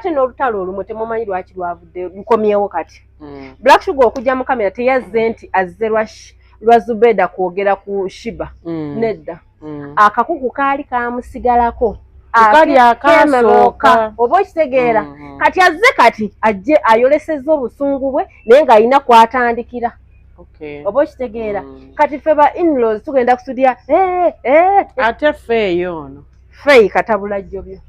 ate n'olutalo olumu temumanyi lwaki lwavudde lukomyewo kati hmm. black sugar okujja mu kamera teyazze nti azze lwa zubeda kwogera ku shiba hmm. nedda hmm. akakuku kaali kamusigalako kali akasooka oba okitegeera kati azze kati ajje ayolesezza obusungu bwe naye ng'alina kwatandikira oba okitegeera kati ffe ba inlos tugenda kusudya eh, eh, eh. ate ffe eyo ono fey katabula jjobyo eh,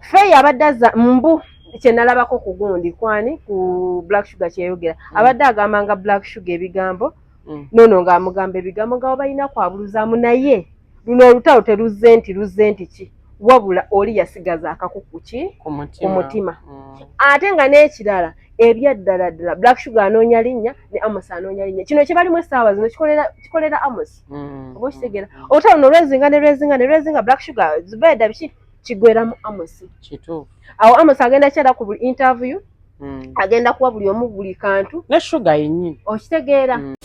fey abadde aza mbu kyenalabako ku gundi kwani ku black sugar kyeyogera mm. abadde agamba nga black sugar ebigambo mm. nono nga amugamba ebigambo nga wabalina kwabuluzamu naye luno olutalo teluzze nti luzze nti ki wabula oli yasigaza akakuku ki ku mutima mm. ate nga n'ekirala ebyaddala ddala black sugar anoonya linnya ne amos anoonya linnya kino kyebalimu essaawa zino kikolera amosi mm. oba okitegeera olutalo no lwezinga ne lwezinga ne lwezinga black sugar zubeeda biki kigweramu amosi kituufu awo amosi agenda kyera ku buli interview mm. agenda kuwa buli omu buli kantu ne sugar yennyini okitegeera mm.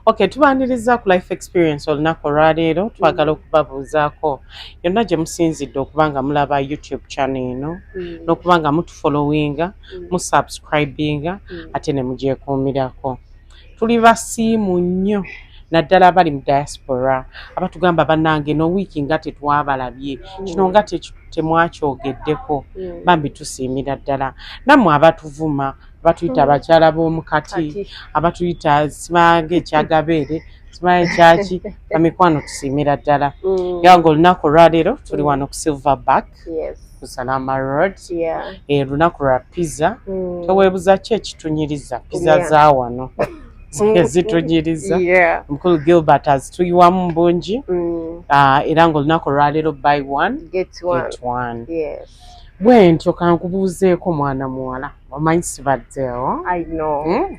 Okay, tubaniriza ku life experience olunaku olwaleero twagala okubabuuzaako yonna gye musinzidde okuba nga mulaba youtube channel eno mm. n'okuba nga mutufollowinga mm. musubscribinga mm. ate ne mugyekuumirako tuli basiimu nnyo naddala abali mu diaspora abatugamba banange no wiiki nga tetwabalabye mm. kino nga temwakyogeddeko mm. bambi tusiimira ddala nammwe abatuvuma batuyita mm. abakyala b'omu kati abatuyita sibaga ekyagabeere sibaga ekyaki amikwano tusiimira ddala mm. era nga olunaku olwaleero tuli mm. wano ku silver back ku salama road eh, olunaku lwa pizza teweebuza ki ekitunyiriza pizza za wano ezitunyiriza mukulu gilbert azituyiwamu bungi ah, era nga olunaku olwaleero by one get one bwentyo kankubuuzeeko mwana muwala omanyi sibaddewo hmm?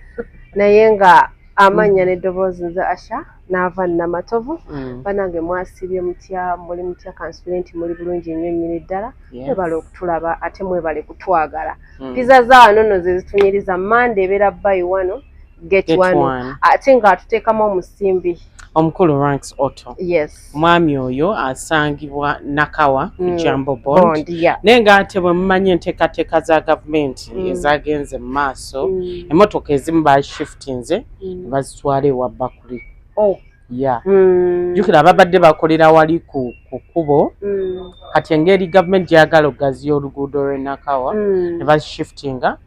naye nga amannya hmm. n'eddoboozi nze asha n'ava namatovu hmm. banange mwasibye mutya muli mutya kansubire nti muli bulungi nnyo nnyini ddala mwebale okutulaba ate mwebale kutwagala piza za wano no ze zitunyiriza mande ebeera bayi wano get one ate ng'atuteekamu omusimbi omukulu ranks auto yes Omwami oyo asangibwa Nakawa ku mm. Jambo Bond naye ng'ate bwe mumanyi enteekateeka za gavumenti mm. ezaagenze mu maaso mm. emmotoka ezimu baashiftinze ne bazitwala ewa Bakuli. Oh. ya jjukira ababadde bakolera wali ku kkubo kati engeri gavumenti gyagala okugaziya oluguudo lw'e Nakawa ne bazishiftinga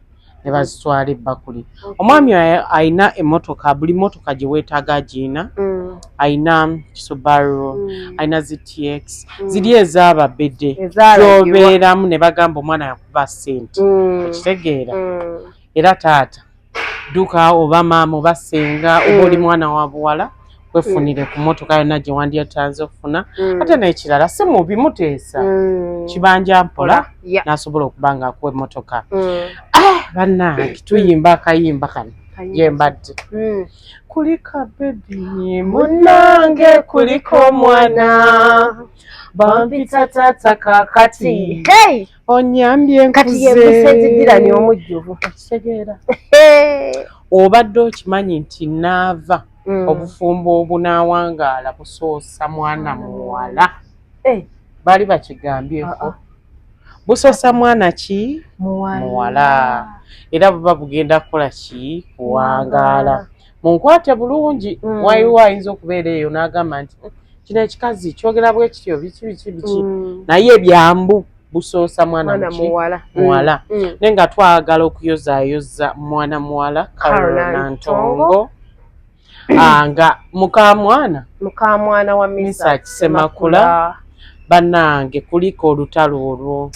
ne bazitwala ebbakuli omwami alina emotoka buli motoka gye weetaaga agiina mm. alina kisubaru mm. alina ztx mm. ziri ezaaba bede gyobeeramu ne bagamba omwana yakuba sente okitegeera era taata dduka oba maama oba senga oba oli mwana wa buwala wefunire mm. ku motoka yonna gye wandyatanze okufuna mm. ate n'ekirala si mubi muteesa mm. kibanja mpola n'asobola okuba nga akuwa emmotoka ah, bannange tuyimba akayimba kano yembadde kulika bebi munange kuliko omwana bampita tata kakati onyambye nkuzeemusezigirani omujjuvu okitegeera obadde okimanyi nti naava mm. obufumbo obunaawangaala busoosa mwana muwala eh. baali bakigambyeko ah, ah. busoosa mwana ki muwala era buba bugenda kukola ki kuwangaala munkwate bulungi mm. waiwo ayinza okubeera eyo n'agamba nti mm, kino ekikazi kyogera bwe kityo biki biki biki mm. naye ebyambu busoosa mwana muwala muwala naye nga twagala okuyozaayoza mwana muwala karolina ntongo ah, nga mukamwana mukamwana wa misa kisemakula banange kulika olutalo olwo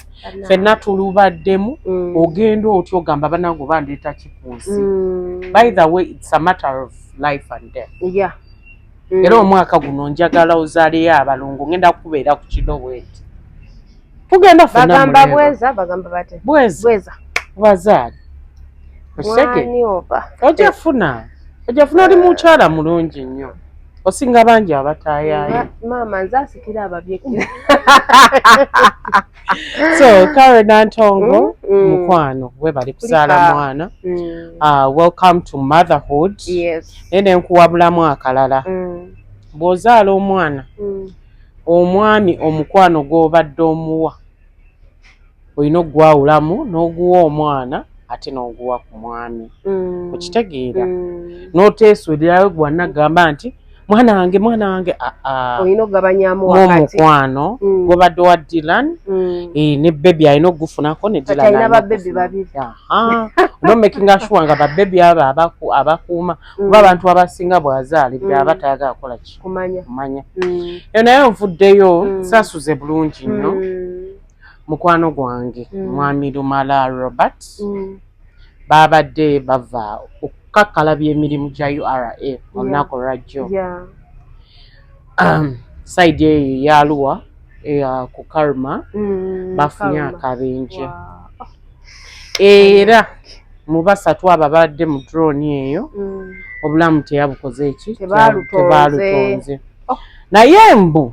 fenna tulubaddemu mm. ogenda otya ogamba banange oba ndeeta kikunsi mm. by the way its a matter of life and death yeah. mm. era omwaka guno njagala ozaleyo abalongo ngenda kukubeera ku kiloweti tugenda fnagamba bweza bagamba bate bweza bazaali okisege ojafuna ojafuna oli mukyala mulungi nnyo osinga bangi abatayaayo maama nze asikira ababye so kare nantongo mm, mm. mukwano webali kuzaala mwana mm. ah, welcome to motherhood naye nenkuwabulamu akalala bw'ozaala omwana omwami omukwano gw'obadde omuwa Olina okugwawulamu n'oguwa omwana ate n'oguwa ku mwami mm. okitegeera mm. n'oteesuulirayo gwe wanagamba nti mwana wange mwana wange ah, ah. olina okugabanyamu omukwano mm. gwobadde wa dilan mm. eh, ne bebi alina okugufunako ne nomakinga sure nga babebi abo abakuuma mm. kuba abantu abasinga bwazaali byaba tayagala kukola kikumanya eyo naye nvuddeyo sasuze bulungi nnyo mukwano gwange mm. mwami lumala robert mm. babadde bava okukakkalabya emirimu gya ura olunaku olwajjo um, saidi eyo eyaluwa eya ku karma mm, bafunye akabenje era mu basatu abo abadde mu droni eyo obulamu teyabukoze eki tebaalutonze oh. naye mbu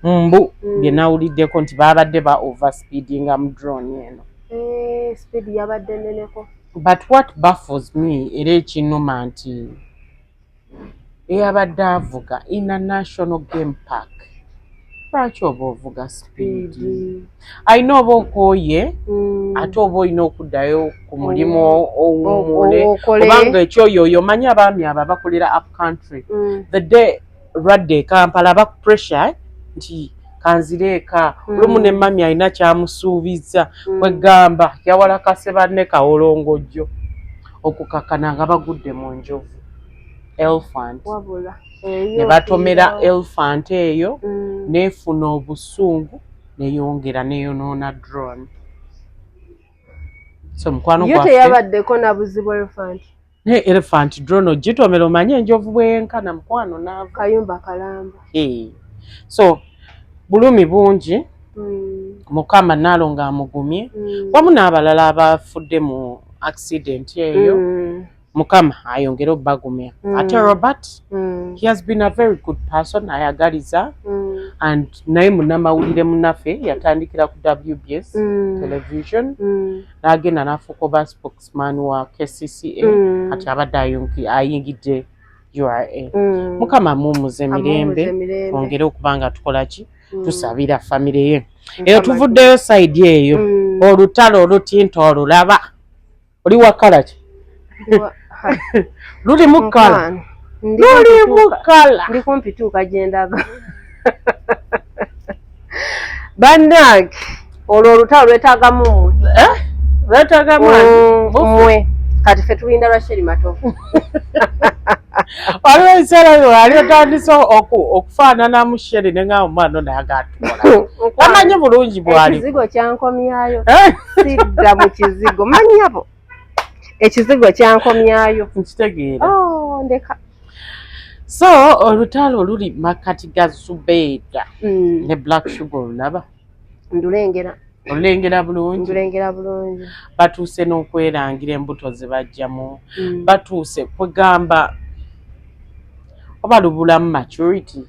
mbu mm. bye nawuliddeko nti baabadde ba overspeedinga mu drone eno eh, speed yabadde neneko but what baffles me era ekinuma nti eyabadde avuga in a national game park lwaki oba ovuga speed alina oba okooye mm. ate oba olina okuddayo ku mulimu mm. owumule obanga ekyoyo oyo omanyi abaami abo abakolera up country mm. the day olwadde ekampala aba pressure nti kanzire eka hmm. olumu ne mami alina kyamusuubizza hmm. kwegamba yawalakase banne kawolongojjo okukakana nga bagudde mu njovu elfant ne batomera elfant eyo hmm. nefuna obusungu neyongera neyonoona drone so mukwano gwafe Naye elephant drone ogitomera omanye enjovu bweyenkana mukwano naava. Kayumba kalamba. Hey. So bulumi bungi mm. mukama naalo nga amugumye mm. wamu n'abalala abafudde mu accident eyo mm. mukama ayongere obagumya mm. ate robert mm. he has been a very good person ayagaliza mm. and naye munamawulire munafe yatandikira ku wbs mm. television mm. nagenda nafuuka oba spokes man wa kcca mm. kati abadde ayingidde ura mm. mukama mumuze mirembe twongere okuba nga tukola ki mm. tusabira famire ye eyo tuvuddeyo saidi eyo olutalo olutinta olulaba oli wakala ki luli mukala luli mukala ndi kumpi tuuka gyendaga bannange olwo olutalo lwetagamu eh? lwetagamu mwe kati fe tulinda lwa sheri matovu waliwo ekiseera wali otandise okufaananamu sheri ne nga omwana onagatuula amanyi bulungi bwalikizigo kyankomyayo eh? sidda mu kizigo manyabo ekizigo kyankomyayo nkitegeera oh, ndeka so olutalo luli makkati ga zubeeda mm. ne black sugar olulaba ndulengera olulengera bulungi ndulengera bulungi batuuse n'okwerangira embuto zebajjamu mm. batuuse kwegamba oba lubulamu maturity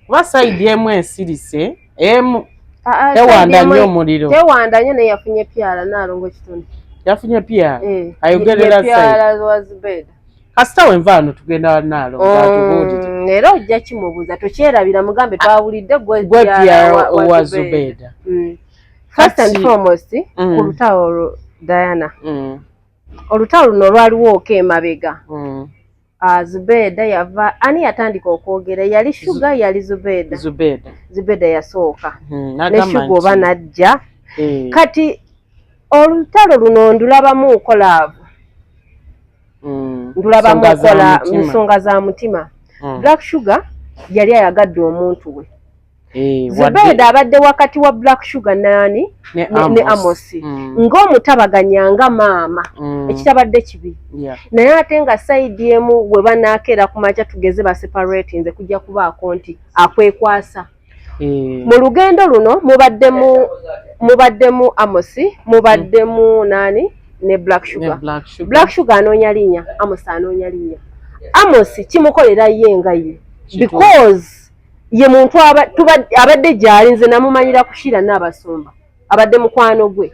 kuba sayidi emu ensirise emu ah, ah, tewanda nnyo omuliro tewanda nnyo naye yafunye pyala naalongo ekitone yafunye pyala eh, ayogerera sayidi kasita wenva wano tugenda wanaalongo mm, atubuulire era ojja kimubuuza tokyerabira mugambe ah, twawulidde gwe pyala owa zubeeda mm. first and foremost mm. ku lutawo olwo diana olutawo luno lwaliwo oka emabega Ah, Zubeda yava ani yatandika okwogera yali shuga yali Zubeda Zubeda Zubeda yasooka hmm, ne shuga oba najja eh. kati olutalo luno ndulabamu nkolaavu hmm. ndulabamu nkola nsonga za mutima hmm. Black Sugar yali ayagadde omuntu we Eh, Zubeda abadde wakati wa Black Sugar nani ne, ne, ne Amosi mm. ng'omutabaganya nga maama mm. ekitabadde kibi yeah. naye ate nga saidi emu we banakeera ku makya tugeze ba separate nze kujja kubaako nti akwekwasa eh. mu lugendo luno mubaddemu mubaddemu Amosi mubaddemu mm. nani ne Black Sugar, ne Black Sugar. Black Sugar anoonya linya Amosi anoonya linya Amosi kimukolera ye nga ye because ye muntu abadde gyali nze namumanyira kushira nabasumba abadde mukwano gwe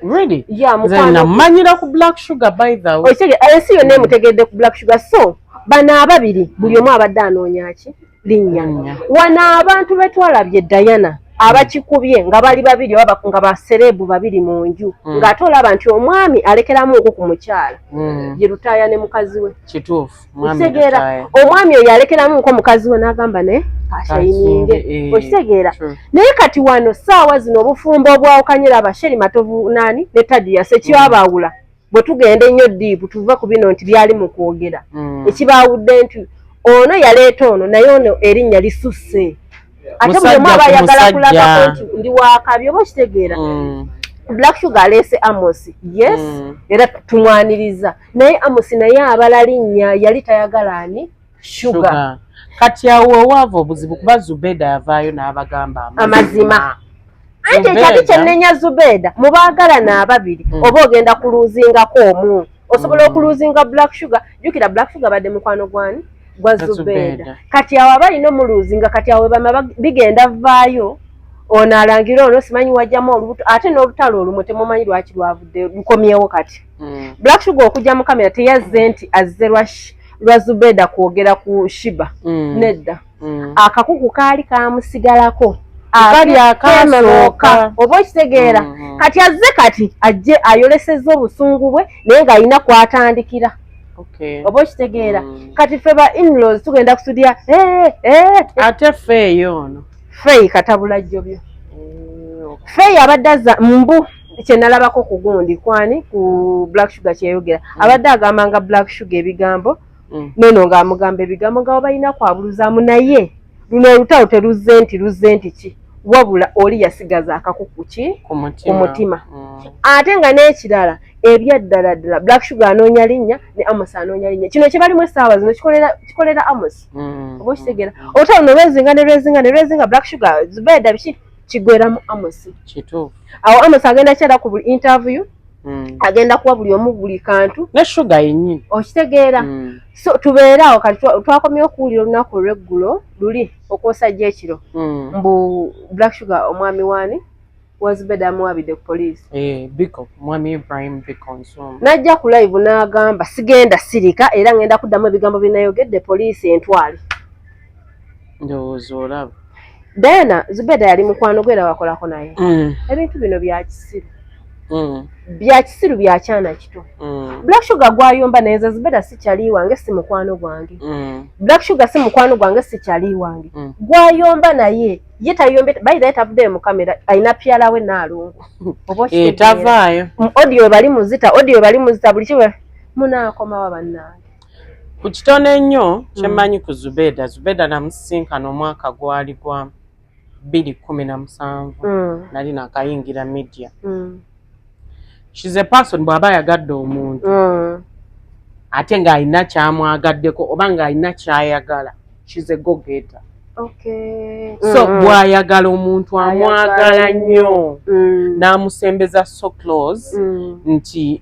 namumanyira ku black sugar by the way eh, ensi yonna emutegedde ku black sugar so bano ababiri buli omu abadde anoonyaki linnya wano abantu betwalabye diana abakikubye nga bali babiri oba nga basereebu babiri mu nju mm. ng'ate olaba nti omwami alekeramu nku ku mukyala mm. ye lutaaya ne mukazi we kituufu okitegeera omwami oyo alekeramu nko mukazi we n'agamba ne ashayininge eh, okitegeera naye kati wano saawa zino obufumbo obwawukanyira abasheri matovu nani ne tadiya sekibabaawula mm. bwe tugenda ennyo diibu tuve ku bino nti byali mu kwogera mm. ekibaawudde nti ono yaleeta ono naye ono erinnya lisusse ate buli omu aba ayagala kulagako nti ndi wakabi oba okitegeera mm. black sugar aleese amosi yes era tumwaniriza naye amusi naye abala linnya yali tayagala ani shuga kati awo owaava obuzibu kuba zubeda yavaayo n'abagamba amazima anti ekyali kyenenya zubeda mubaagalana ababiri hmm. oba ogenda kuluuzingako omu osobola hmm. okuluuzinga black sugar jukira black sugar badde mukwano gwani gwa zubeda kati awo aba alina omuluuzinga kati awo webama bigenda vaayo ono alangira ono simanyi wajjamu olubuto ate n'olutalo olumu temumanyi lwaki lwavudde lukomyewo kati mm. black sugar okujja mu kamera teyazze nti azze lwa lwa zubeda kwogera ku shiba mm. nedda mm. akakuku kaali kamusigalako akali akasooka oba okitegeera mm -hmm. kati azze kati ajje ayolesezza obusungu bwe naye ng'alina kwatandikira okay. oba okitegeera mm. kati fe ba inlaws tugenda kusudya hey, eh, eh, hey, eh. ate fe eyo ono fey katabula jjobyo mm, okay. fey abadde aza mbu kyenalabako ku gundi kwani ku black sugar kyeyogera mm. abadde agambanga black sugar ebigambo mm. nono nga amugamba ebigambo nga wabalina kwabuluzamu naye luno olutalo teluzze nti luzze nti ki wabula oli yasigaza akakuku ki ku mutima mm. ate nga n'ekirala ebyaddala ddala black sugar anoonya linnya ne amos anoonya linnya kino kyebalimu essaawa zino kikolera amos oba okitegeera olutalo no lwezinga ne lwezinga ne lwezinga black sugar zubeeda biki kigweramu amosi kituufu awo amosi agenda kyera ku buli interview Mm. agenda kuwa buli omu buli kantu ne shuga yenyini okitegeera mm. so tubeere awo kati twakomyewo okuwulira olunaku olweggulo luli okwosajja ekiro mm. mbu black sugar omwami waani wazibeda amuwabidde ku poliisi eh, biko mwami ibrahim biko nsumba najja ku live n'agamba sigenda sirika era ngenda kuddamu ebigambo binayogedde poliisi entwale ndowooza olaba diana zubeda yali mukwano gwe era wakolako naye mm. ebintu bino byakisiru mm. byakisiru byakyana kito mm. black sugar gwayomba naye nze zubeda sikyali wange si mukwano gwange black sugar si mukwano gwange sikyali wange gwayomba naye ye tayombe bayiraye tavuddeyo mu kamera alina pyala we naalongo obotavaayo eh, odio bali muzita odio bali muzita buli kiwe munaakomawa bannange ku kitono ennyo hmm. kyemmanyi ku zubeda zubeda namusisinkana omwaka gwali gwa bbiri kumi na musanvu hmm. nali nakayingira media hmm. shes a person bw'aba ayagadde omuntu ate ng'alina kyamwagaddeko oba ng'alina kyayagala shes a gogeta so bw'ayagala omuntu amwagala nnyo n'amusembeza so close nti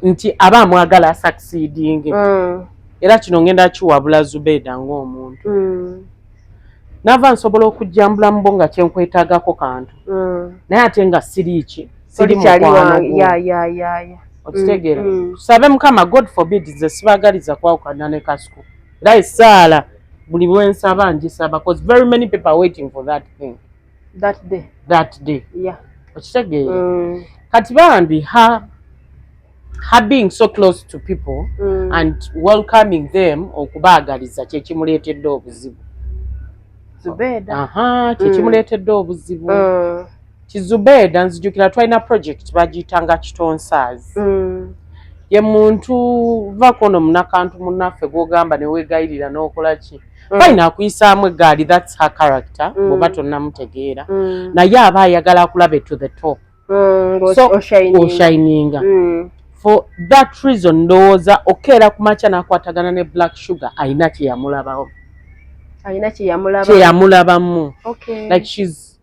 nti aba amwagala asakisidinge mm. era kino ngenda kiwabula zubeeda ngaomuntu mm. nava nsobola okujjambula mubo nga kyenkwetagako kantu mm. naye ate nga siriiki okitegeera tusabe mukama god forbid nze sibagaliza kwawukana ne kasuku era esaala buli bwensaba njisaba bcause very many people are waiting for that thing that day that day yeah okitegeera mm. kati bambi ha ha being so close to people mm. and welcoming them okubaagaliza kyekimuleetedde obuzibu aha kyekimuleetedde mm. obuzibu mm. kizubeeda nzijukira twalina project bagiyitanga kitonsaazi mm. ye muntu vakono munakantu munaffe gwogamba newegayirira nokola ki mm. Mm. fine akuyisaamu eggaali thats her character mm. bwoba tonnamutegeera mm. naye aba ayagala akulabe to the top oshininga for that reason ndowooza okeera ku makya n'akwatagana ne black sugar alina kyeyamulabawo alina kyeyamulabamu like shes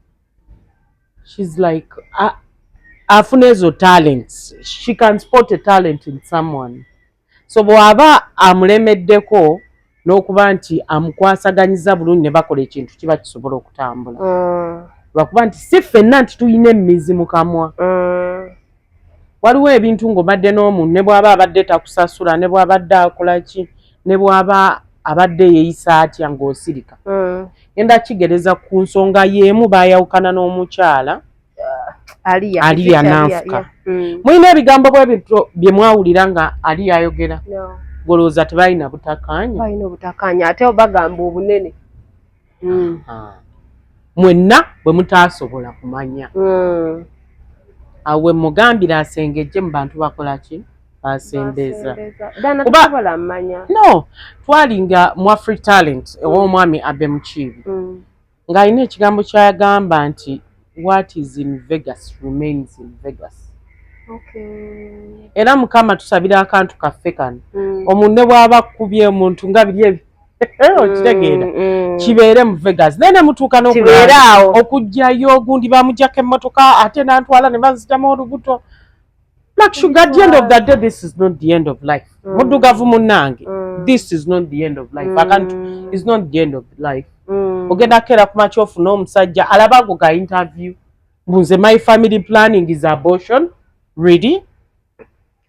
shes like afuna ezo talents she can spot a talent in someone So bw'aba amulemeddeko n'okuba nti amukwasaganyiza bulungi ne bakola ekintu kiba kisobola okutambula mm. lwakuba nti si ffenna nti tulina emmizi mu kamwa mm. waliwo ebintu ng'obadde n'omuntu ne bw'aba abadde takusasula ne bw'abadde akola ki ne bw'aba abadde yeeyisa atya ng'osirika mm. enda kigereza ku nsonga y'emu baayawukana n'omukyala aliya aliya nanfuka mm. mulina ebigambo bwe bityo bye mwawulira nga aliya ayogera golowooza tebalina butakanya balina obutakanya ate bagamba obunene mm. mwenna bwe mutaasobola kumanya mm. awo we mugambira asengejje mu bantu bakola ki asembeeza no twalinga mu afri talent ow'omwami abe mukiibi Ng'alina ekigambo ky'agamba nti, What is in Vegas remains in Vegas. Era Mukama tusabira akantu kaffe kano. Mm. Omuntu ne bw'aba akkubye omuntu nga biri ebi mm, okitegeera mm. kibeere mu Vegas naye ne mutuuka n'okubeeraawo okujjayo ogundi baamugyako emmotoka ate n'antwala ne banzitamu olubuto Black Sugar, at the end of the day, this is not the end of life. Mm. Mudugavu munange, mm. this is not the end of life. Mm. I can't, mm. it's not the end of life. Mm. Ogenda kera kuma chofu no msajja, alaba kuka interview. Mbuze, my family planning is abortion. Ready?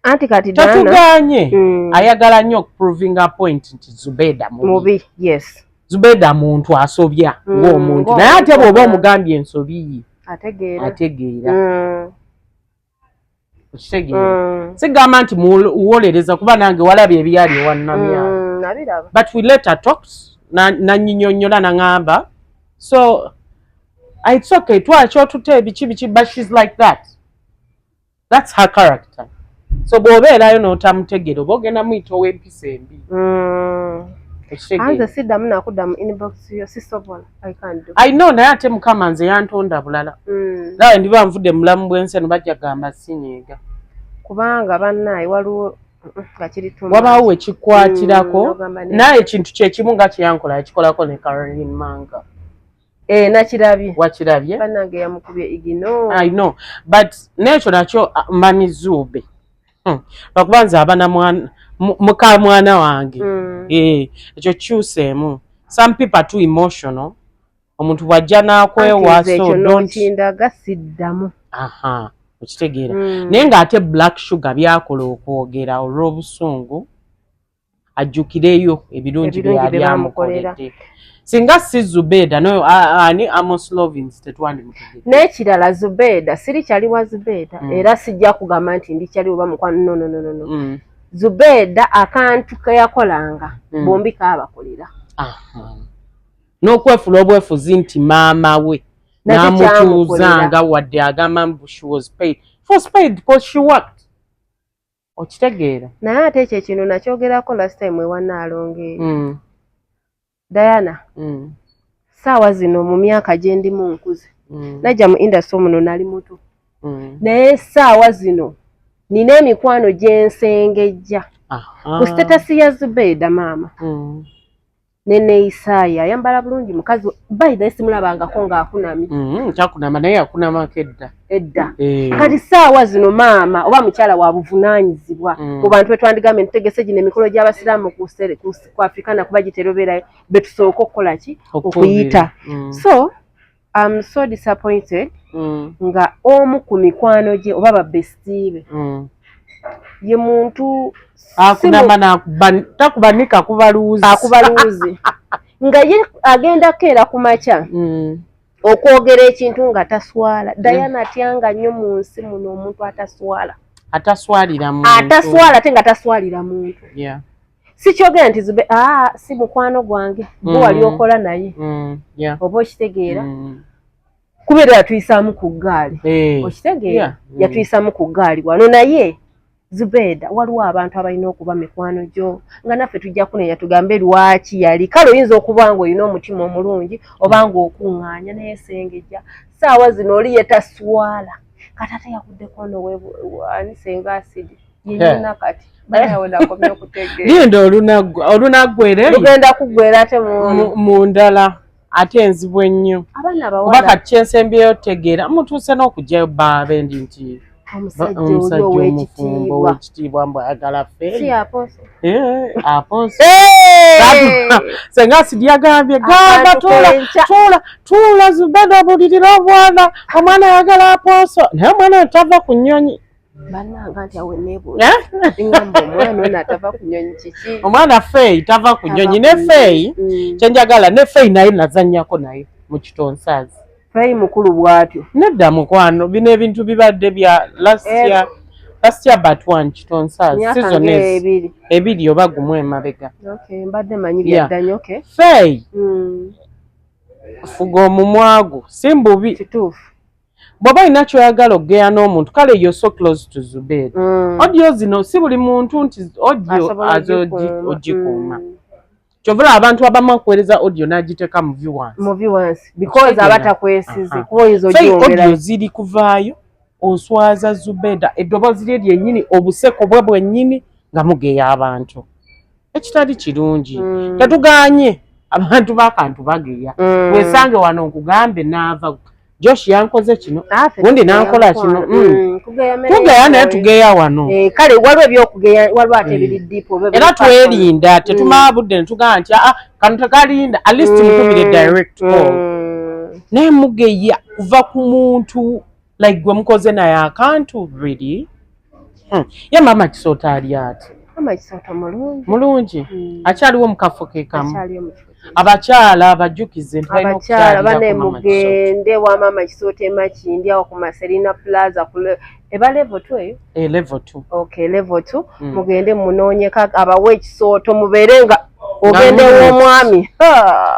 Anti kati dana. Tatu ganye. Mm. Ayagala nyok proving a point into Zubeda movie. Movie, yes. Zubeda muntu asobya. Mm. Wo muntu. Na yate bobo mugambi ensobi. Ategeera. Ategeera. Mm. okitegeera mm. sigamba nti muwolereza kuba nange walaba ebyali ewannamya mm, but we let her talk nanyinyonyola nangamba so ah, it's okay twakyotute ebiki biki but she's like that that's her character so bwobeerayo notamutegera oba ogenda muyita owempisa embi mm. anze siddamu nakuddamu inbox yo sisobola I know naye ate mukama nze yantonda bulala mm. nawe ndiba nvudde mulamu bwensi eno bajja gamba sinyiiga kubanga bannaye waliwo wabaawo wekikwatirako mm, naye ekintu kyekimu nga kyeyankola yakikolako ne caroline manga eh, nakirabye wakirabye banange yamukubye igino i know but nekyo nakyo uh, mami zuube hmm. lwakuba nze abana muka mwana wange hmm. eh, ekyo kyuseemu some people are too emotional omuntu bwajja nakwewasontindaga siddamu aha okitegeera hmm. naye ng'ate black sugar byakola okwogera olw'obusungu ajjukireyo ebirungi bye yali amukoledde singa si zubeeda no ani amoslovins tetwandimutegedde n'ekirala zubeeda siri kyali wa zubeeda mm. era sijja kugamba nti ndi kyali oba mukwano nonononono mm. zubeeda akantu ke yakolanga mm. bombi kaabakolera n'okwefula obwefuzi nti maama we n'amutuuzanga wadde agamba mbu she was paid for spade because she worked okitegeera naye ate ekyo ekintu nakyogerako last time ewa naalonge eyo mm. diana mm. saawa zino mu myaka gyendimu nkuze mm. najja mu industry muno nali muto mm. naye saawa zino nina emikwano gyensengejja ku sitatasi ya zubeeda maama mm. neneyisaye ayambala bulungi mukazi bayidhe simulabangako nga akunamye mm-hmm, takunama naye akunamako edda edda eh. kati saawa zino maama oba mukyala wa buvunanyizibwa mm. mu bantu betwandigambe ntutegese gino emikolo gy'abasiraamu ku afrikana kuba giterobeerayo betusooka okukola ki okuyita mm. so am so disappointed mm. nga omu ku mikwano gye oba babestiibe mm. ye muntu akunama nakuba takubanika kuba luuzi akuba luuzi nga ye agenda keera ku makya mm. okwogera ekintu nga taswala mm. dayana atyanga nnyo mu nsi muno omuntu ataswala ataswalira muntu ataswala ate nga taswalira muntu yeah. sikyogera nti zube aa si mukwano gwange mm. gwe wali okola naye mm. oba okitegeera mm. kubeera yatuyisaamu ku ggaali eh. okitegeera yatuyisaamu ku ggaali wano naye zubeeda waliwo abantu abalina okuba mikwano gyo nga naffe tujja kunenya tugambe lwaki yali kale oyinza okuba nga olina omutima omulungi oba nga okuŋŋaanya naye sengejja saawa zino oli yetaswala kataata yakuddeko noweani senga asidi linda olunaggwere lugenda kuggwera ate mu ndala ate enzibu ennyo oba kati kyensembyeyo tegeera mutuuse n'okugyayo baabe ndi nti omusajja omufumbo owekitiibwa mbu ayagala fesenga sidi yagambye gamba tuula zubeda obulirira obwana omwana ayagala aposo naye omwana entava ku nyonyi bananga nti awe nebuuza ngamba omwana ono atava ku nyonyi kiki omwana feeyi tava ku nyonyi ne feeyi mm. kyenjagala ne feeyi naye nazanyako naye mu kitonsaazi feeyi mukulu bwatyo nedda mukwano bino ebintu bibadde bya lasya eh. lasya bat one kitonsaazi sizon ebiri oba gumu emabega mbadde manyi byaddanyo feeyi mm. fuga omumwagu simbubi kituufu bwoba olina kyoyagala okugeya n'omuntu kale yo so close to zubeeri mm. odio zino si buli muntu nti odio aze ogikuuma mm. kyovula abantu abamu akuweereza odio n'agiteeka mu viwansodio ziri kuvaayo oswaza zubeda eddoboozi lye lyennyini obuseko bwe bwennyini nga mugeya abantu ekitali kirungi mm. tetuganye abantu bakantu bageya wesange wano nkugambe naava Josh yankoze kino ah, gundi nankola kino mm. mm, tugeya naye tugeya wano eh, kale waliwo ebyokugeya waliwo ate biri mm. dipo era twerinda mm. tetumala budde netugamba nti aa ah, kano tekalinda at least mukubire direct call naye mugeya kuva ku muntu like gwe mukoze naye akantu really Hmm. Ye mama kisota ali ati. Mama kisota mulungi. Mulungi. Hmm. Akyaliwo mu kafo ke kamu. Akyaliwo mu kifo. Abakyala abajukize nti balina okukyalira ku mama kisota. Abakyala bane mugende wa mama kisota emakindi awo ku Maserina Plaza ku eba level 2 eyo. E eh, level 2. Okay, level 2. Hmm. Mugende munoonyeka abawe ekisooto mubeere nga ogenda ew'omwami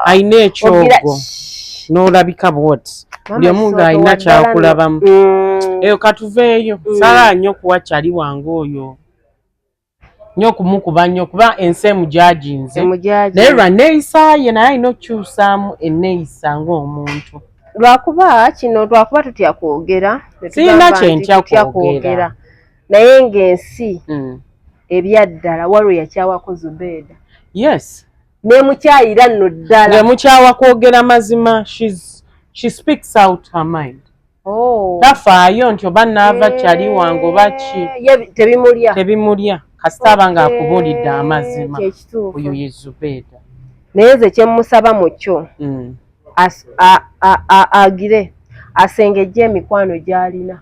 alina ekyogo n'olabika bwoti buli omu ng'alina kyakulabamu mm. eyo katuveeyo mm. salaa nnyo kuwa kyali wange oyo nyo kumukuba nyo kuba ensi emujaginze naye lwa neeyisa ye naye alina okukyusaamu enneeyisa ng'omuntu lwakuba kino lwakuba tutya kwogera sirina kyentya kwogera naye ng'ensi mm. ebyaddala waliwo yakyawako zubeeda yes nemukyayira nno ddala nemukyawa kwogera mazima she speaks out her mind oh. tafaayo nti oba naava eh, kyali wange oba ki tebimulya tebimulya kasita aba nga akubuulidde amazima oyo ye zubeeda naye nze kyemusaba mu kyo mm. agire asengejja emikwano gy'alina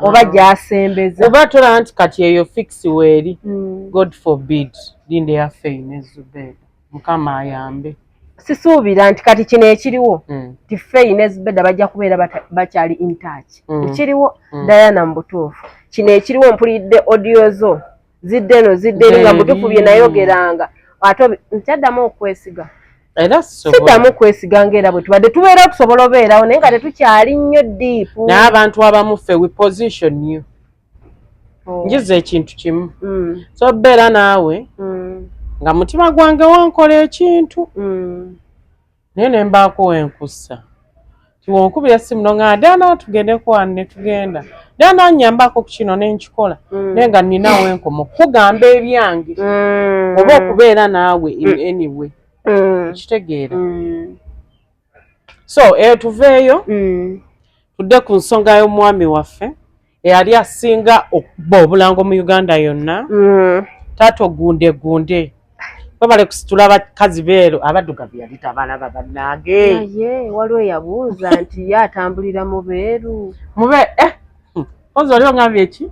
oba gyasembeza oba tolaba nti kati eyo fiksi weeri hmm. god forbid linda yafeine zubeda mukama ayambe sisuubira nti kati kino ekiriwo hmm. ti feine zubeda bajja kubeera bakyali intouch hmm. ekiriwo diana mu butuufu kino ekiriwo mpulidde audio zo zidde eno zidde eri nga mutufu bye nayogeranga ate nkyaddamu okwesiga era siddamu okwesiga ngaera bwe tubadde tubeera tusobola obeerawo naye nga tetukyali nnyo diipu naye abantu abamu ffe we position you oh. njiza ekintu kimu mm. so beera naawe mm. nga mutima gwange wankola ekintu mm. naye ne mbaako we nkussa nti wonkubira essimu no nga dana tugendeko wano ne tugenda dana nnyambako ku kino ne nkikola mm. naye nga nnina wenkoma okukugamba ebyange mm. oba okubeera naawe in mm. any way okitegeera so eyo tuveeyo tudde ku nsonga y'omwami waffe eyali asinga okuba obulango mu uganda yonna mm. taata ogunde gunde webale kusitula bakazi beero abaddugavu yali tabalaba bannange naye waliwo eyabuuza nti ye atambulira mu beeru mube eh, hmm, oza oli ongambye eki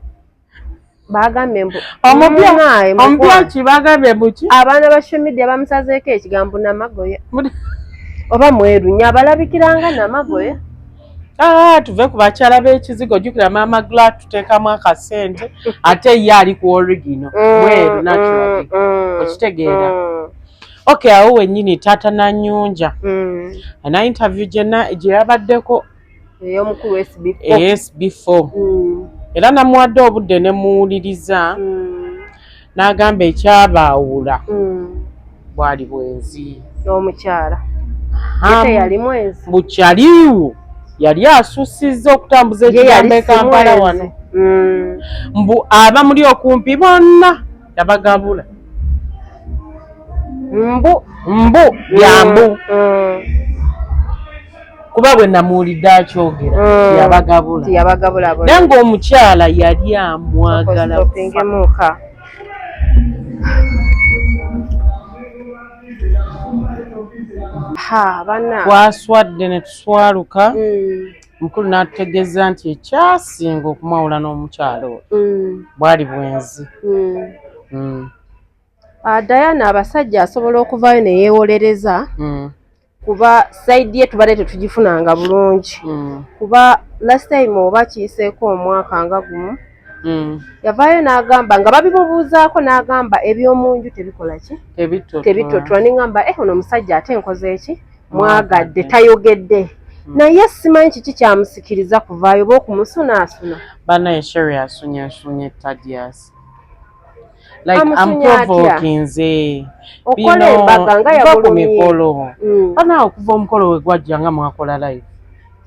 bagambye mbu omubyaki bagambye mbuki abaana ba shomidia bamusazeeko ekigambo namagoya oba mweru nyo abalabikiranga namagoya Ah, tuve ku bakyala b'ekizigo jukira maama gla tuteekamu akasente ate ye ali ku origino mm, mweru mm, naturally mm, okitegeera ok awo wenyini taata nanyunja ana interview gyena gye yabaddeko eyomukulu sb4 era namuwadde obudde nemuwuliriza n'agamba ekyabaawula hmm. bwali bwenzi n'omukyala yali mwenzi bukyaliwo yali asussizza okutambuza ekigambo ekampala wano hmm. mbu abamuli okumpi bonna yabagabula mbu mbu byambu hmm. kuba bwe namuwulidde akyogera mm. yabagabula yabagabula bona nange omukyala yali amwagala kufa twaswadde ne tuswaluka mm. mukulu n'atutegeeza nti ekyasinga okumwawula n'omukyalo oyo mm. bwali bwenzi mm. ah, diana abasajja asobola okuvaayo ne yeewolereza kuba side ye tubadde tetugifunanga bulungi mm. kuba last time oba kiyiseeko omwaka nga gumu mm. yavaayo n'agamba nga babimubuuzaako n'agamba eby'omu nju tebikola ki tebitotwa ningamba e eh, ono omusajja ate enkoze eki mwagadde tayogedde mm. naye simanyi kiki kyamusikiriza kuvaayo oba okumusunaasuna banaye sheri asunyaasunya tadiasi like amuprovokinze binoba ku mikolo mm. banaa okuva omukolo we gwajja nga mwakola live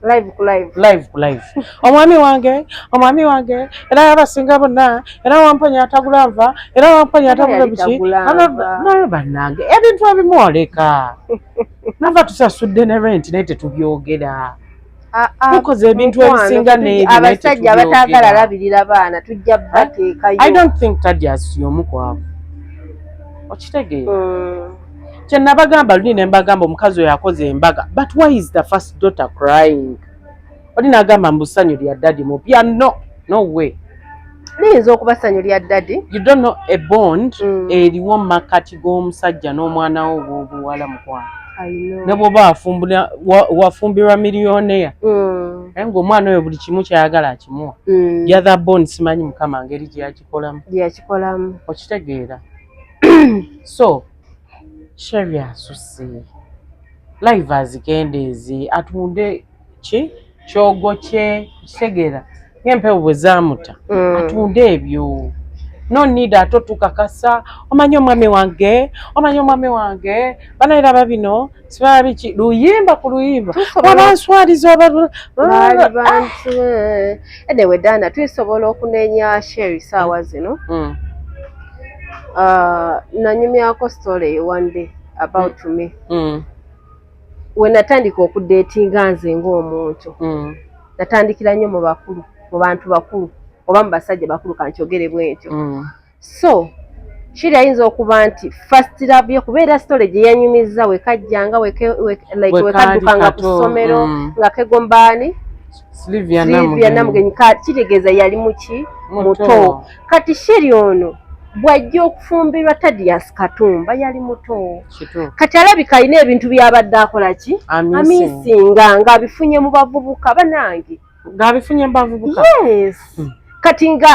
live ku live live ku live omwami wange omwami wange era yabasinga bonna era wamponya atagula nva era wamponya atagula biki naye bannange ebintu ebimu oleka nava tusasudde ne renti naye tetubyogera ah, ah, tukoze ebintu ebisinga neabasajja abatagala alabirira baana tujja bateekayo i don't think tadias yomu kwabo okitegeera mm. kyenabagamba luli nembagamba omukazi oyo akoze embaga but why is the first daughter crying oli nagamba mbusanyu lya dadi mupya no no way liyinza okuba ssanyu lya dadi you don't know a bond mm. eriwo mu makkati g'omusajja n'omwana wo bwobuwala mukwano ne bwoba wafumbirwa miliyonea mm. naye ngaomwana oyo buli kimu kyayagala akimuwa mm. yathe bond simanyi mukama ngeri gyeyakikolamu gyeyakikolamu okitegeera so sheri asusi live azikendeezi atunde ki kyogo kye kitegeera ng'empewo bwe zaamuta mm. atunde ebyo no need ate otukakasa omanyi omwami wange omanyi omwami wange banaera babino sibala biki luyimba ku luyimba wabanswaliza obabantu enewe dana tuisobola okunenya sheri saawa mm. zino mm. ah, nanyumyako story one day about mm. me we natandika okudeetinga nze ng'omuntu mm. natandikira nnyo mu bakulu mu bantu bakulu oba mu basajja bakulu kankyogere bwentyo mm. so kiri ayinza okuba nti first love ye kubeera story gye yanyumizza wekajjanga wekaddukanga ku ssomero mm. nga kegombaani silivia namugenyi kitegeeza yali muki muto kati sheri ono bwajja okufumbirwa tadias katumba yali muto kati alabika alina ebintu byabadde akola ki amisinga ngaabifunye mu bavubuka banange ngaabifunye mu bavubuka yes hmm. kati nga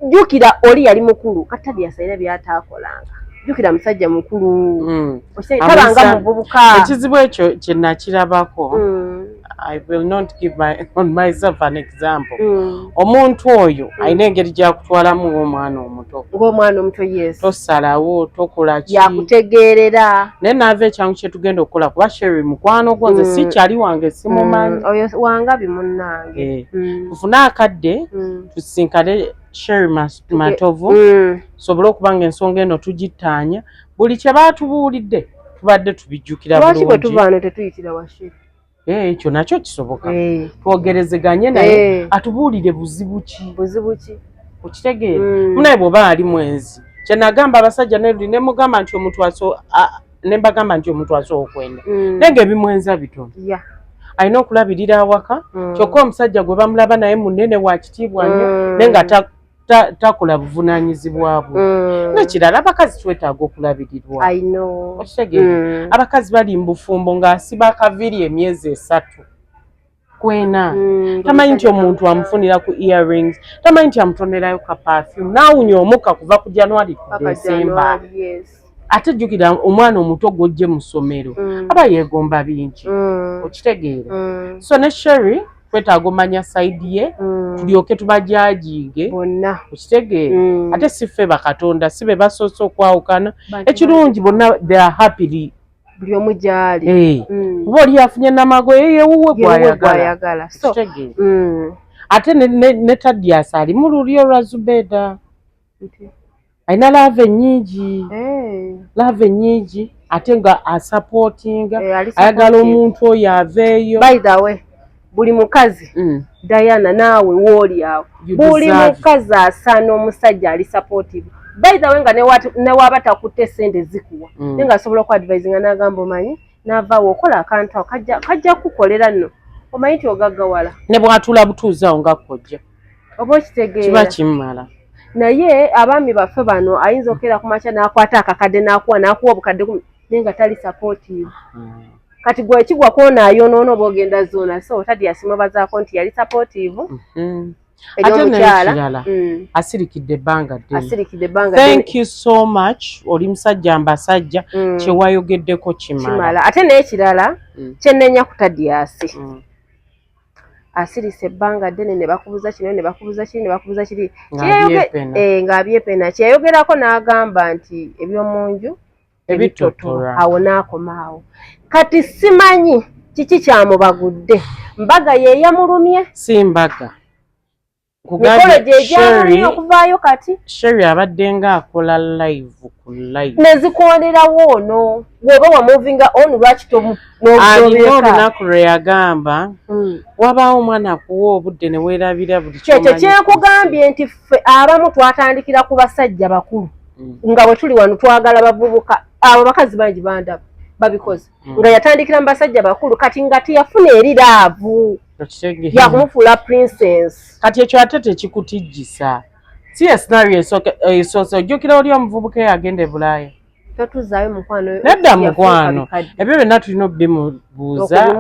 jjukira oli yali mukulu kati tadias alina byataakolanga jukira musajja mukulu mm. tabanga muvubuka ekizibu ekyo kyenakirabako mm. I will not give my, on myself an example mm. omuntu oyo mm. alina engeri gyakutwalamu ng'omwana omuto ng'omwana omuto yes tosalawo tokola ki yakutegeerera naye naava ekyangu kye tugenda okukola kuba sheri mukwano gwo nze mm. si kyali wange simumanyi mm. oyo wanga bimunnange eh. mm. tufune akadde mm. tusinkane sheri matovu mm. sobole okuba nga ensonga eno tugittaanya buli kye baatubuulidde tubadde tubijjukira bulungi lwaki bwe tuvaano tetuyitira wa sheri Eh, ekyo nakyo kisoboka eh. twogerezeganye eh. naye atubuulire buzibu ki buzibu ki okitegeera hmm. munaye bwoba ali mwenzi kyenagamba abasajja neli nemugamba nti omuntu aso nembagamba nti omuntu asobola okwenda hmm. naye nga ebimwenza bitono alina okulabirira awaka hmm. kyokka omusajja gwe bamulaba naye munene wakitiibwa nyo naye nga takola buvunanyizibwa bwe mm. nekirala abakazi twetaaga okulabirirwa okitegere mm. abakazi bali mubufumbo nga asiba akaviri emyezi esatu kwena mm, tamanyi nti omuntu amufunira ku earrings tamanyi nti amutonerayo ka perfume nawunya omuka kuva ku january ku december ate jjukira omwana omuto gwojje mu ssomero mm. aba yeegomba bingi mm. okitegeera mm. so ne sherry twetaaga omanya saidi ye mm. tulyoke tubajajiige bonna okitegeera mm. ate si ffe bakatonda si be basoose okwawukana ekirungi bonna they are happily buli omu gyali eh. mm. oba oli afunye namago yeyewuwe gwayagala ate ne tadiasi ali mu lulyo lwa zubeeda alina laava ennyingi eh. laava ennyingi ate nga asapootinga eh, ayagala omuntu oyo aveeyo buli mukazi mm. diana naawe wooli awo buli mukazi asaana omusajja ali sapootivu bayithawe nga newaaba takutte sente zikuwa mm. naye nga asobola okuadivisinga n'agamba omanyi n'avaawo okola akantu kajja kukukolera nno omanyi nti ogaggawala ne bw'atuula butuuzi awo nga kojja oba okitegeera kiba kimmala naye abaami baffe bano ayinza okeera ku makya n'akwata akakadde n'akuwa n'akuwa obukadde kumi naye nga tali sapotiivu hmm. kati gwe kigwa kwona ayonoono oba ogenda zoona so tadi yasimubazaako nti yali sapotiivu hmm. ate nekirala mm. asirikidde ebbanga ddenthank you so much oli musajja mbasajja mm. kyewayogeddeko kimala ate nekirala mm. kyenenya kutadiyasi asirise ebbanga ddene ne bakubuza kino ne bakubuza kiri ne bakubuza kiri ng'abyepena eh, kyeyayogerako n'agamba nti eby'omu nju ebitotola awo n'akoma awo kati simanyi kiki kyamubagudde mbaga ye yamulumye si mbaga mukolo gyegyamanyi okuvaayo kati sheri abadde nga akola live ku live nezikwanirawo ono woba wamovinga on lwaki alina olunaku lwe yagamba hmm. wabaawo omwana akuwa obudde ne weerabira buli kyekyo kyekugambye nti ffe abamu twatandikira ku basajja bakulu hmm. nga bwe tuli wano twagala bavubuka abo bakazi bangi bandaba babikoze mm. nga yatandikira mu basajja bakulu kati nga teyafuna eri laavu yakumufuula princess kati ekyo ate tekikutijjisa si esinario esoose ojjukira oli omuvubuka eyagenda e bulaaya totuzaayo mukwano nedda mukwano ebyo byonna tulina obimubuuza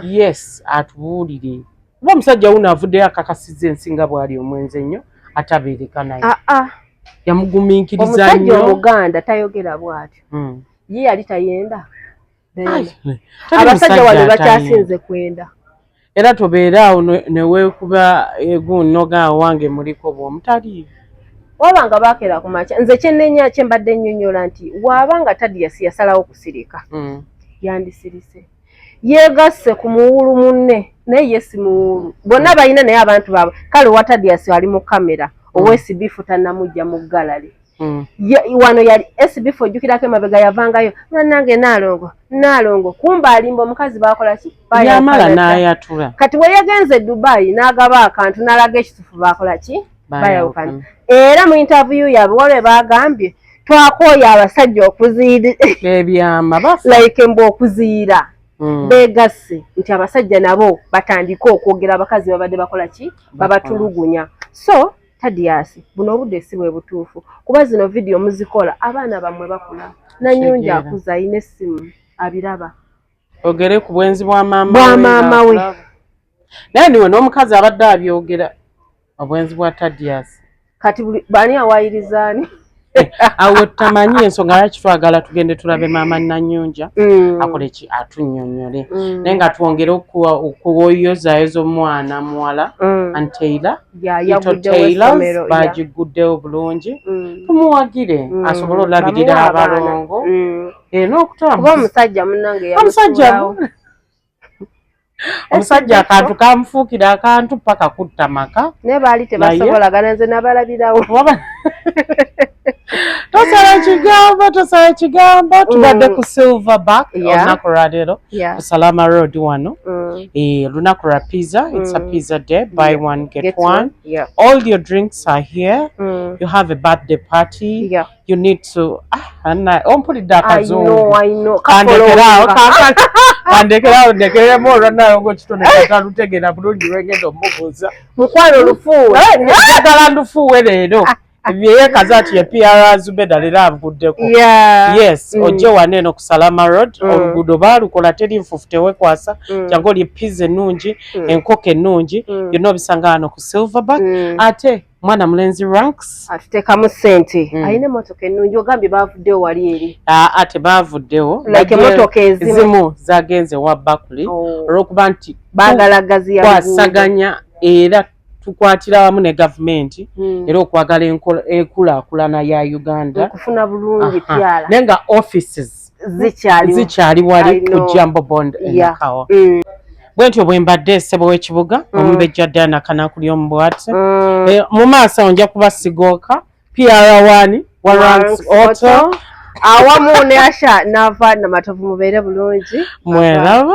yes atubuulire kuba omusajja wuno avuddeyo akakasiza ensi nga bwali omwenzi ennyo atabeereka naye ah, ah. yamugumiikiriza nnyo omuganda tayogera bwatyo hmm. ye yali tayenda abasajja wano bakyasinze kwenda era tobeera awo neweekuba egun noga wange muliko bwomutali waba nga bakera ku makya nze kyenenya kyembadde nnyonnyola nti waaba nga tadiyasi yasalawo kusirika mm. yandisirise yegasse ku muwulu munne naye yesi muwulu bonna balina naye abantu baabwe kale watadiyasi ali mu kamera mm. owesibifu tanamujja mu galale mm. wano yali esibifo ojjukirako emabega yavangayo nanange naalongo naalongo kumba alimba omukazi bakola ki yamala nayatula kati weyagenze e dubayi n'agaba akantu n'alaga ekitufu bakola ki bayawukana era mu intaviyu yabwe walwe bagambye twakooya abasajja okuziyira ebyama like mbu okuziyira Mm. begasse nti abasajja nabo batandike okwogera abakazi babadde bakola ki babatulugunya so Tadiyaasi buno obudde si bwe butuufu kuba zino vidiyo muzikola abaana bammwe bakula nanyungi akuza alina essimu abiraba ogere ku bwenzi bwa maama we naye niwe n'omukazi abadde abyogera obwenzi bwa Tadiyaasi kati bani awayirizaani awo tamanyi ensonga lwaki twagala tugende tulabe maama nanyunja mm. akole ki atunyonyole mm. naye nga twongere okuwoyozayoza omwana muwala mm. anteila ito tailors bagiguddewo bulungi tumuwagire asobole olabirira abalongo eh, nokutambaomusajja munange omusajja omusajja akantu kamufuukira akantu paka kutta maka naye baali tebasobolagana nze nabalabirawo tosala kigambo tosala kigambo mm. tubadde ku silver back olunaku lwaleero ku salama road wano mm. eh, lunaku lwa pizza its a mm. pizza day buy one get one all your drinks are here you have a birthday party you need to ah, anna ompulidde akazungu kandekeraawo kandekeraawo ndekeremu olwanayo ngaokitone katalutegeera bulungi lwengenda omubuuza mukwano lufuuweddagala eh, ndufuuwe leero yeyekaza nti ye pr zubeda leero anvuddeko yes mm. ojje wana eno ku salama road mm. oluguudo baalukola teri nfufu tewekwasa mm. jangu olye piza ennungi enkoko ennungi yonna obisanga wano ku silverback ate mwana mulenzi ranks atutekamu sente mm. alina emotoka ennungi ogambye bavuddewo wali eri aa tebavuddewo like emotoka ezimu zagenze wa bakuli oh. olwokuba nti bagala gazi yakwasaganya era tukwatira wamu ne gavumenti mm. era okwagala enkulakulana ya uganda okufuna bulungi pyala naye nga offices zikyali zikyali wali ku Jambo Bond yeah. Kawa mm. bwentyo bwembadde sebo w'ekibuga mm. omubejja Diana Kanakuli omu bwati mm. e, mu maaso awo nja kuba sigooka PR1 Warrants Auto awamu ne Asha n'ava Namatovu mubeere bulungi mweraba